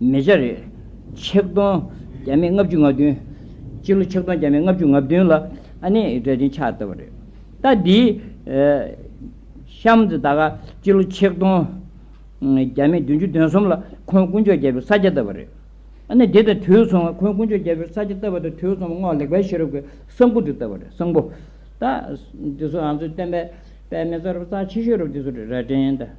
མེ་བྱ་རེ། ཆིག་སྟོང་བརྒྱ་མེད་ལྔ་བཅུ་ང་བདུན། སྤྱི་ལོ་ཆིག་སྟོང་བརྒྱ་མེད་ལྔ་བཅུ་ང་བདུན་ལ་ཨ་ནེ་ཡི་གྲལ་ཆེན་ཕྱག་བཏབ་པ་རེད། རྟ་འདིའི། ཤམ་ཛི་ད་ཀ་སྤྱི་ལོ་ཆིག་སྟོང་བརྒྱ་མེད་བདུན་ཅུ་དོན་གསུམ་ལ་ཁོང་དཀོན་མཆོག་རྒྱལ་པོའི་ས་སྐྱ་བཏབ་པ་རེད། ཨ་ནེ་འདི་དང་དུས་མཚུངས་ཁོང་དཀོན་མཆོག་རྒྱལ་པོའི་ས་སྐྱ་བཏབ་པ་དང་དུས་མཚུངས་སྔོག་ལེགས་དཔལ་ཤེས་རབ་ཀྱི་གསང་ཕུག་དུ་བཏབ་པ་རེད་གསང་ཕུག། རྟ་འདི་སོགས་ཨང་ཚོའི་བསྟན་པའི་པདྨའི་རྩ་རུ་རྩ་ཆེ་ཤོས་རུ་འདི་སོགས་རེད་རྭ་སྒྲེང་དང།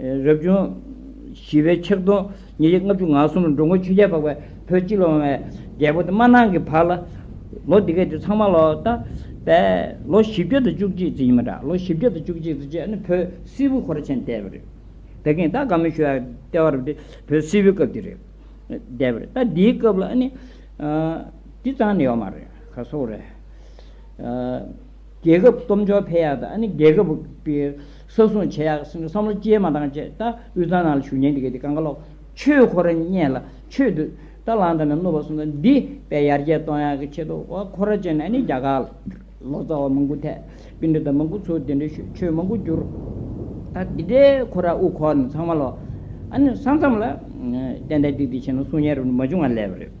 རབ་བྱུང་བཞི་པའི་ཕྱག་སྟོང་ཉིས་བརྒྱ་ལྔ་བཅུ་ང་གསུམ་ལ་འགྲོ་མགོན་ཆོས་རྒྱལ་འཕགས་པའི་བུ་གཅིག་ལ་དབང་བའི་རྒྱལ་པོ་སྟེ་མ་ནང་གི་བར་ལ། ལོ་འདི་གའི་དུས་ཚང་མ་ལོ་ལྟ་བས་ལོ་བཞི་བརྒྱ་དང་བཅུ་གཅིག་ཙི་ཡིན་པ་འདྲ་ལོ་བཞི་བརྒྱ་དང་བཅུ་གཅིག་ཙི་ཅེས་ནི་བོད་སིལ་བུ་ཧོར་ཆེན་བསྟན་པ་རེད། བད་ཀན་སྟག་དགའ་མོ་ཞུ་བའི་ལྟེ་བ་རུ་དེ་བོད་སིལ་བུའི་སྐབས་དེ་རེད་བསྡད་པ་རེད་ད་འདིའི་སྐབས་ལ་ནི། དེ་ཙང་ནི་ཡོད་མ་རེད་ག་སོགས་རེད། རྒྱལ་ཁབ་སྟོབས་འབྱོར་འཕེལ་ཡག་དང་རྒྱལ་ཁབ་ཀྱི་ས་སྲུང་བྱེད་ཡག་གསུམ་གྱི་བསམ་བློ་བསྐྱེད་མ་བཏང་ཆེད་ད་དབུས་གཙང་ནང་ལ་བཞུགས་ཉིན་དེ་གའི་དེ་ག་མཁའ་ལོག་ཆོས་འཁོར་བརྙེས་ལ་ཆོས་དུ་ད་ལང་དང་ནས་བསྣུབས་པ་གསུམ་དང་འདི་བས་ཡར་རྒྱས་གཏོང་ཡག་གི་ཆེད་དུ་འཁོར་བར་བཅས་ནས་རྒྱ་གར་ལོག་རྩ་བ་མང་པོ་ཐད་སྤེན་འདྲེ་དང་མང་པོ་ཚུར་དེ་འདྲའི་ཆོས་མང་པོ་བསྒྱུར། ད་འདི་འདྲའི་འཁོར་ར་དབུ་འཁོར་ནས་ཚང་མ་ལོག། ས་མཚམས་ལ་གཏན་བདེ་སྡིག་སྡིག་བྱས་ན་སྲུང་ཉན་རུབ་ནས་མ་བྱུང་བ་ལས་པ་རེད།